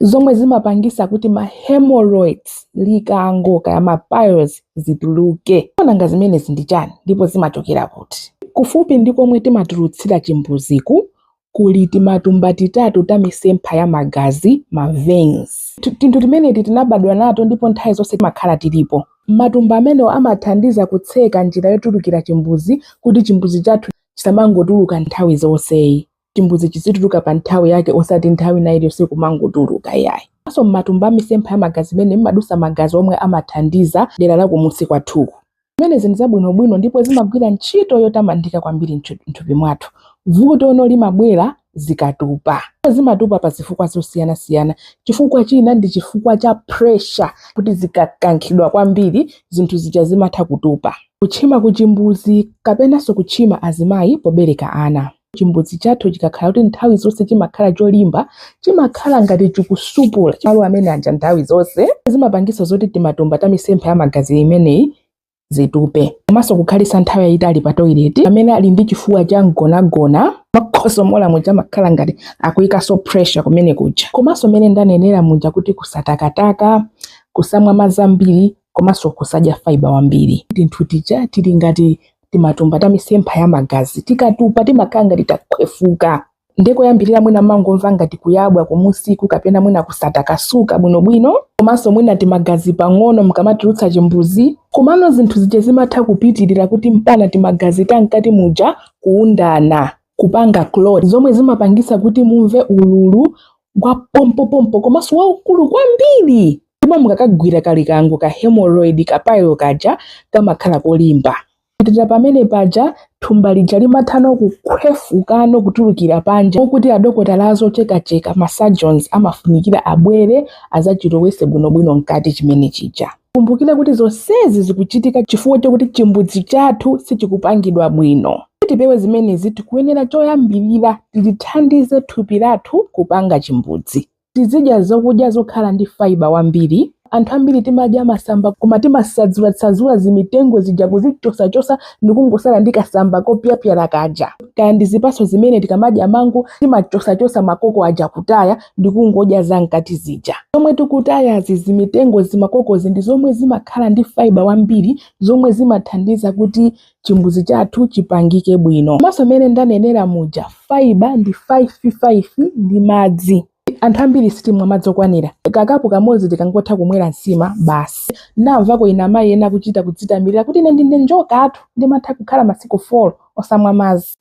zomwe zimapangisa kuti ma hemorrhoids likango kaya ma piles zituluke nanga zimenezi ndi chani ndipo zimachokera kuti kufupi ndi komwe timatulutsira chimbuziku kuli timatumba titatu ta misempha ya magazi ma veins tinthu timeneti tinabadwa nato ndipo nthawi zonse timakhala tilipo matumba amenewo amathandiza kutseka njira yotulukira chimbuzi kuti chimbuzi chathu chisamangotuluka nthawi zonseyi chimbuzi chizituluka pa nthawi yake osati nthawi ina iliyonse kumangotuluka iyayi komanso m'matumba amisempha ya magazi mmene mmadusa magazi omwe amathandiza dera la kumunsi kwathuku zimenezi ndi zabwinobwino ndipo zimagwira ntchito yotamandika kwambiri m'thupi mwathu vuto ono limabwera zikatupa zimatupa pa zifukwa zosiyanasiyana chifukwa china ndi chifukwa cha pressure kuti zikakankhidwa kwambiri zinthu zija zimatha kutupa kutchima kuchimbuzi kapenanso kutchima azimayi pobereka ana Chimbudzi chathu chikakhala kuti nthawi zonse chimakhala cholimba, chimakhala ngati chikusupula malo amene aja nthawi zonse. Zimapangitsa zoti timatumba ta misempha ya magazi imeneyi zitupe komanso kukhalisa nthawi yayitali pa toilet amene ali ndi chifuwa cha mgonagona makhosomola muja amakhala ngati akuyikanso pressure kumene kuja komanso mmene ndanenera muja kuti kusatakataka kusamwa madzi ambiri komanso kusadya fiber wambiri tinthu tija tili ngati timatumba ta misempha ya magazi tikatupa timakhala ngati takhwefuka nde koyambirira mwina mangomva ngati kuyabwa kumusiku kapena mwina kusatakasuka bwinobwino komanso mwina timagazi pang'ono mkamatulutsa chimbuzi komano zinthu zija zimatha kupitirira kuti mpana timagazi tamkati muja kuundana kupanga clot zomwe zimapangisa kuti mumve ululu wa pompopompo komanso waukulu kwambiri ndipo mukakagwira kalikango ka hemorrhoid ka pile kaja kamakhala kolimba pitira pamene paja thumba lija limathano kukhwefukano kutulukira panja okuti adokotala azochekacheka masurgeons amafunikira abwere azachilowese bwinobwino mkati chimene chija Tikumbukire kuti zonsezi zikuchitika chifukwa chakuti chimbudzi chathu sichikupangidwa bwino. Kuti tipewe zimenezi, tikuyenera choyambirira tilithandize thupi lathu kupanga chimbudzi. Tizidya zokudya zokhala ndi fiber wambiri. Anthu ambiri timadya masamba koma timasadzulasadzula zimitengo zija kuzichosachosa ndikungosala ndi kasamba kopyapyala kaja. Kaya ndi zipatso zimene tikamadya mango timachosachosa makoko aja kutaya ndi kungodya za mkati zija. Zomwe tikutayazi zimitengo zimakokozi ndi zomwe zimakhala ndi fiber wambiri zomwe zimathandiza kuti chimbuzi chathu chipangike bwino. Komanso mmene ndanenera muja fiber ndi 55 ndi madzi. Anthu ambiri sitimwa madzi okwanira. Kakapu kamodzi tikangotha kumwera nsima basi. Ndamvako ina amayi ena akuchita kudzitamirira kuti ine ndine njokatu ndimatha kukhala masiku 4 osamwa madzi.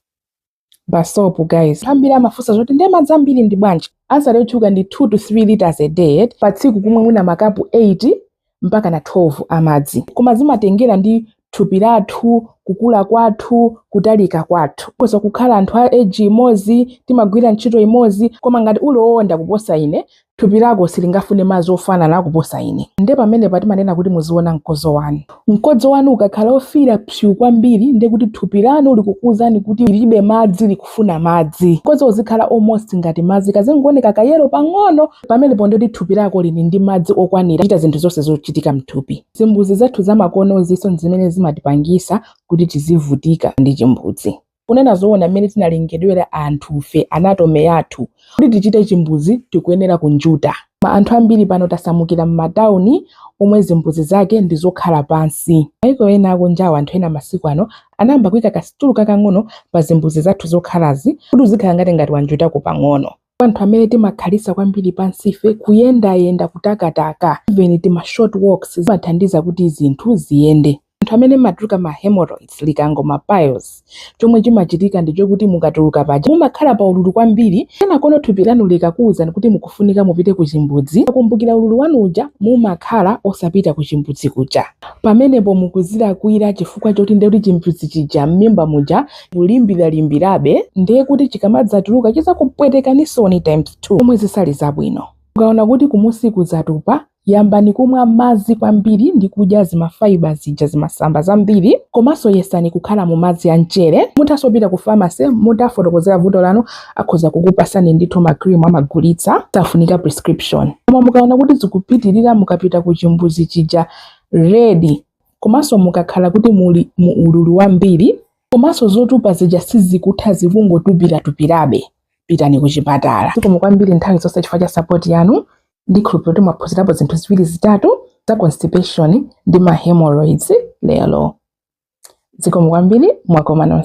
basopu guys ambiri amafunsa zoti ndiye madzi ambiri ndi bwanji answer yotchuka ndi 2 to 3 liters a day eti pa tsiku kumwe mwina makapu 8 mpaka na 12 amadzi koma zimatengera ndi thupi lathu kukula kwathu kutalika kwathu olo kukhala anthu a age imodzi timagwira ntchito imodzi koma ngati uli owonda kuposa ine Thupi lako silingafune madzi ofanana kuposa ine. Ndiye pamenepa timanena kuti muziona mkodzo wanu. Mkodzo wanu ukakhala wofiira psuu kwambiri ndiye kuti thupi lanu likukuuzani kuti lilibe madzi, likufuna madzi. Mkodzo uzikhala almost ngati madzi, kazingooneka kayelo pang'ono, pamenepo ndiye kuti thupi lako lili ndi madzi okwanira kuchita zinthu zonse zochitika m'thupi. Zimbudzi zathu zamakonozinso n'zimene zimatipangitsa kuti tizivutika ndi chimbudzi. Kunena zoona, mmene tinalengedwera anthufe, anatomy yathu, kuti tichite chimbudzi tikuyenera kunjuta. Anthu ambiri pano tasamukira m'matauni omwe zimbudzi zake ndi zokhala pansi. Maiko ena akunjawa, anthu ena masiku ano anayamba kuika kasitulu kakang'ono pa zimbudzi zathu zokhalazi kuti uzikhala ngati ngati wanjutako pang'ono. anthu amene timakhalitsa kwambiri pansife kuyendayenda kutakataka even tima short walks zimathandiza kuti zinthu ziyende anthu amene mumatuluka ma hemorrhoids likango ma piles chomwe chimachitika ndi chokuti mukatuluka paja mumakhala pa ululu kwambiri kenakono thupi lanu likakuwuzani kuti mukufunika mupite ku chimbudzi pokumbukira ululu wanu uja mumakhala osapita ku chimbudzi kuja pamenepo mukuzilakwira chifukwa choti ndekuti chimbudzi chija m'mimba muja kulimbiralimbirabe ndiye kuti chikamadzatuluka chizakupwetekanisoni times 2 zomwe zisali zabwino mukaona kuti kumusiku zatupa yambani kumwa madzi kwambiri ndi kudya zimafaiba zija zimasamba zambiri komanso yesani kukhala mu madzi a mchere muthanso kupita ku pharmacy mutawafotokozera vuto lanu akhoza kukupasani ndithu ma cream amagulitsa safunika prescription koma mukaona kuti zikupitirira mukapita ku chimbuzi chija red komanso mukakhala kuti muli mu ululu wambiri komanso zotupa zija sizikutha zikungotupiratupirabe pitani kuchipatala zikomo kwambiri nthawi zonse chifukwa cha sapoti yanu ndikhulupirira kuti mwaphunzirapo zinthu ziwiri zitatu za constipation ndi ma hemorrhoids lero zikomo kwambiri mwakoma nonse